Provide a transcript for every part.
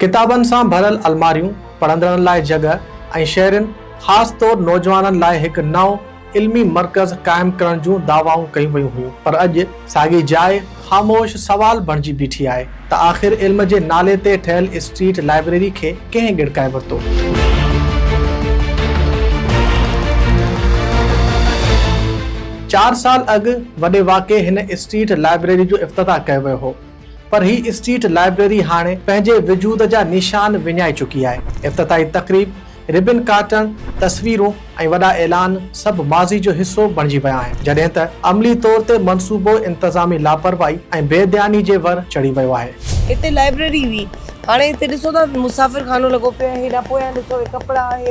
ڪتابن سان ڀريل الماريون، پڙهندڙن لاء جڳهه ۽ شهرين خاص طور نوجوانن لاء هڪ نئون علمي مرڪز قائم ڪرڻ جون دعوائون ڪيون ويون هيون پر اڄ ساڳي جاء خاموش سوال بڻجي بيٺي آهي ته آخر علم جي نالي تي ٺهيل اسٽريٽ لائبريري کي ڪنهن ڳڙڪائي ورتو؟ چار سال اڳ وڏي واڪي هن اسٽريٽ لائبريري جو افتتاح ڪيو ويو هو پر هي اسٽريٽ لائبريري هاڻي پنهنجي وجود جا نيشان وڃائي چڪي آهي. افتتاحي تقريب، ربن ڪاٽڻ، تصويرون ۽ وڏا اعلان سڀ ماضي جو حصو بڻجي ويا آهن، جڏهن ته عملي طور تي منصوبو انتظامي لاپرواهي ۽ بي ڌياني جي ور چڙهي ويو آهي. هتي لائبريري هئي، هاڻي هتي ڏسو ته مسافر خانو لڳو پيو آهي، هيڏانهن پويان ڏسو هي ڪپڙا، هي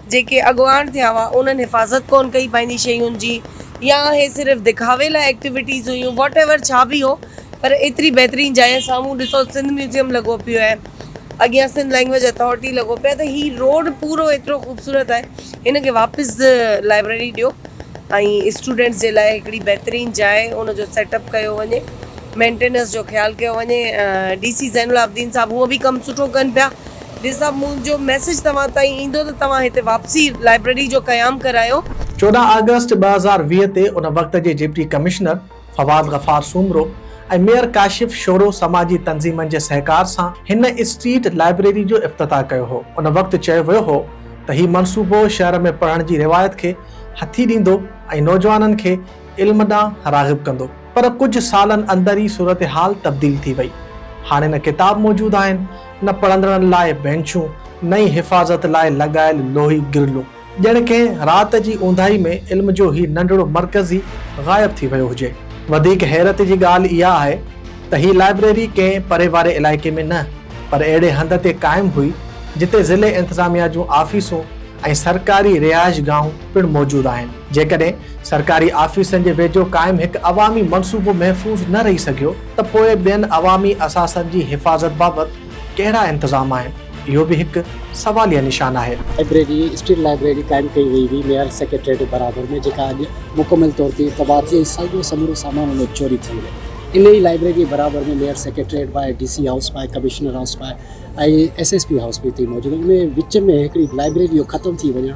جيڪي اڳواڻ ٿيا هئا انهن حفاظت ڪون ڪئي پنهنجي شين جي يا اهي صرف دکاوي لاء ايڪٽيويٽيز هيون واٽ ايور ڇا به هو پر ايتري بهترين جاء سامهون ڏسو سنڌ ميوزيم لڳو پيو آهي اڳيان سنڌ لينگويج اٿارٽي لڳو پيو آهي ته هي روڊ پورو ايترو خوبصورت آهي هن کي واپس لائبريري ڏيو ۽ اسٽوڊنٽس جي لاء هڪڙي بهترين جاء ان جو سيٽ اپ ڪيو وڃي مينٽيننس جو خيال ڪيو وڃي ڊي سي زين العابدين صاحب هونء به ڪم سٺو ڪن پيا ڊي صاحب منهنجو ميسيج توهان تائين ايندو ته توهان هتي واپسي لائبريري جو قيام ڪرايو. چوڏهن آگسٽ ٻه هزار ويهه تي ان وقت جي deputy commissioner Fawad Ghaffar Soomro ۽ mayor Kashif Shoro سماجي تنظيمن جي سهڪار سان هن اسٽريٽ لائبريري جو افتتاح ڪيو هو. ان وقت چيو ويو هو ته هي منصوبو شهر ۾ پڙهڻ جي روايت کي هٿي ڏيندو ۽ نوجوانن کي علم ڏانهن راغب ڪندو. پر ڪجهه سالن اندر ئي صورتحال تبديل ٿي وئي. هاڻي نه ڪتاب موجود آهن، نه پڙهندڙن لاء بئنچون، نه ئي حفاظت لاء لڳايل لوهي گرلون. ڄڻ ڪنهن رات جي اونداهي ۾ علم جو هي ننڍڙو مرڪز ئي غائب ٿي ويو هجي. وڌيڪ حيرت جي ڳالهه اها آهي ته هي لائبريري ڪنهن پري واري علائقي ۾ نه پر اهڙي هنڌ تي قائم هئي جتي ضلعي انتظاميا جون آفيسون ۽ سرڪاري رهائشگاهون پڻ موجود آهن. جيڪڏهن سرڪاري آفيسن جي ويجهو قائم هڪ عوامي منصوبو محفوظ نه رهي سگهيو ته پوء ٻين عوامي اثاثن جي حفاظت بابت ڪهڙا انتظام آهن، اهو به هڪ سواليه نشان آهي. لائبريري، اسٽيل لائبريري قائم ڪئي وئي هئي ميئر سيڪريٽريٽ جي برابر ۾ جيڪا اڄ مڪمل طور تي تباهه ٿي ۽ سڄو سمورو سامان ان جو چوري ٿي ويو. انهيء لائبريري جي برابر ۾ ميئر سيڪريٽريٽ باء ڊي سي هائوس باء ڪمشنر هائوس باء ۽ ايس ايس پي هائوس به اتي ئي موجود آهن. انهيء وچ ۾ هڪڙي لائبريري جو ختم ٿي وڃڻ،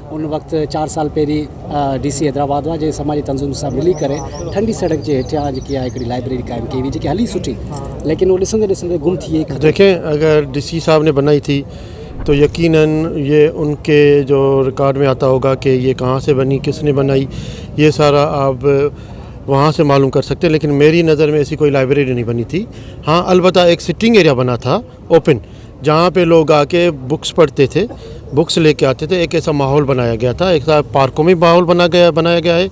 ان وقت چار سال پهرين ڊي سي حيدرآباد هئا جنهن سماجي تنظيمن سان ملي ڪري ٺنڊي سڙڪ جي هيٺيان جيڪي آهي هڪڙي لائبريري قائم ڪئي هئي جيڪي هلي سٺي ليڪن هو ڏسندي ڏسندي گم ٿي ختم دیکھين اگر ڊي سي صاحب ني بنائي ٿي تو يقينا يي ان ڪي جو رڪارڊ مي آتا هوگا ڪي يي ڪهان سي بني ڪس ني بنائي يي سارا آپ وهان سي معلوم ڪر سڪتي هو ليڪن ميري نظر مي ايسي ڪوئي لائبريري نهي بني ٿي هان البته ايڪ سٽنگ ايريا بنا ٿا اوپن جهان پي لوگ آ ڪي بڪس پڙهتي ٿي بڪس لي ڪي آتي ٿي ايڪ ايسا ماحول بنايا گيا ٿا ايڪ پارڪون ۾ ماحول بنا گيا بنايا گيا آهي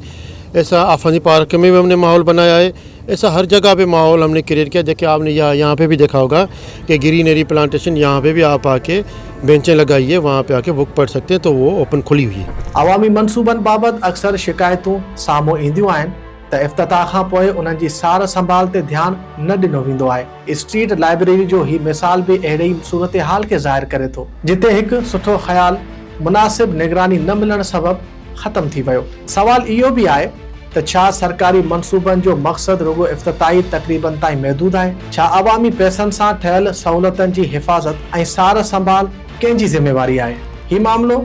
ايسا آفاقي پارڪ ۾ هم ني ماحول بنايا آهي ايسا هر جگهه پي ماحول هم ني ڪريئٽ ڪيا جيڪي آپ ني يهان پي بي ديکا هوگا ڪي گرين اري پلانٽيشن يهان پي بي آپ آ ڪي بينچين لگائي هي وهان پي آ ڪي بڪ پڙهه سگتي تو وو اوپن کلي هئي. عوامي منصوبن بابت اڪثر شڪايتون سامهون اينديون آهن ته افتتاح کانپوء انهن جي سار سنڀال تي ڌيان نه ڏنو ويندو آهي، اسٽريٽ لائبريري جو هي مثال به اهڙي ئي صورتحال کي ظاهر ڪري ٿو، جتي هڪ سٺو خيال مناسب نگراني نه ملڻ سبب ختم ٿي ويو. سوال اهو به آهي ته ڇا سرڪاري منصوبن جو مقصد رڳو افتتاحي تقريبن تائين محدود آهي؟ ڇا عوامي پئسن سان ٺهيل سهولتن جي حفاظت ۽ سار سنڀال ڪنهن جي ذميواري آهي؟ هي معاملو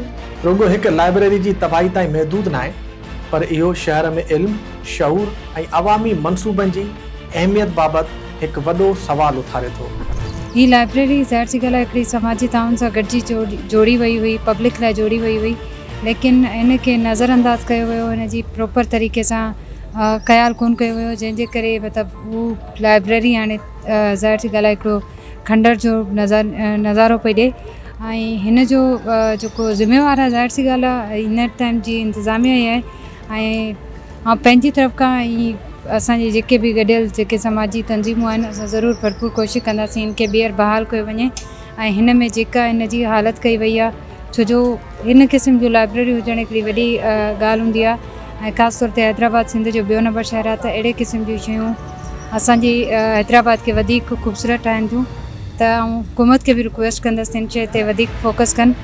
رڳو هڪ لائبريري جي تباهي تائين محدود ناهي، پر اهو شهر ۾ علم، شعور ۽ عوامي منصوبن جي اهميت بابت هڪ وڏو سوال اٿاري ٿو. هي لائبريري ظاهر سي ڳالهه آهي هڪڙي سماجي تعاون سان گڏجي جوڙي وئي هئي، پبلڪ لاء جوڙي وئي هئي ليڪن هن کي نظر انداز ڪيو ويو، هن جي پروپر طريقي سان خيال ڪونه ڪيو ويو جنهن جي ڪري مطلب هو لائبريري هاڻي ظاهر سي ڳالهه آهي هڪڙو کنڊر جو نظارو پئي ڏئي. ۽ هن جو جيڪو ذميوار آهي ظاهر سي ڳالهه آهي هن ٽائيم جي انتظاميا ئي آهي ۽ آئون پنهنجي طرف کان هي اسان جي جيڪي به گڏيل جيڪي سماجي تنظيمون آهن اسان ضرور ڀرپور ڪوشش ڪنداسين هن کي ٻيهر بحال ڪيو وڃي ۽ هن ۾ جيڪا هن جي حالت ڪئي وئي آهي ڇو جو هن قسم جون لائبريريون هجڻ هڪڙي وڏي ڳالهه هوندي آهي ۽ خاص طور تي حيدرآباد سنڌ جو ٻيو نمبر شهر آهي ته اهڙي قسم جون شيون اسان جي حيدرآباد کي وڌيڪ خوبصورت ٺاهن ٿيون ته آئون حڪومت کي به رڪويسٽ ڪندس ته ان شيء تي وڌيڪ فوڪس ڪن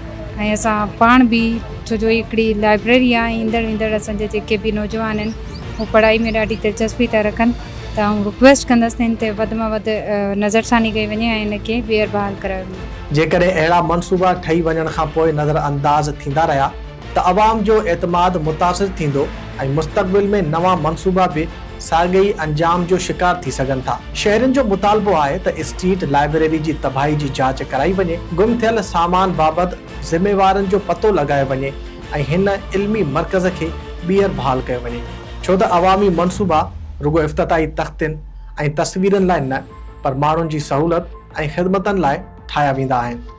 ۽ اسان پاڻ به ڇو جو هڪڙي لائبريري آهي ايندڙ ويندڙ اسان جا جيڪي به نوجوان آهن هو پڙهائي ۾ ڏاڍي دلچسپي ٿا رکن ته آئون رڪويسٽ ڪندس ته ان تي وڌ مان وڌ نظرثاني ڪئي وڃي ۽ ان کي ٻيهر بحال ڪرايو وڃي. جيڪڏهن اهڙا منصوبا ٺهي وڃڻ کانپوء نظرانداز ٿيندا رهيا. ته عوام جو اعتماد متاثر ٿيندو ۽ مستقبل ۾ نوان منصوبا به ساڳئي انجام جو شڪار ٿي سگهن ٿا. شهرين جو مطالبو آهي ته اسٽريٽ لائبريري جي تباهي جي جاچ ڪرائي وڃي، گم ٿيل سامان بابت ذميوارن جو پتو لڳايو وڃي ۽ هن علمي مرڪز کي ٻيهر بحال ڪيو وڃي ڇو ته عوامي منصوبا رڳو افتتاحي تختين ۽ تصويرن لاء نه پر ماڻهن جي سهولت ۽ خدمتن لاء ٺاهيا ويندا آهن.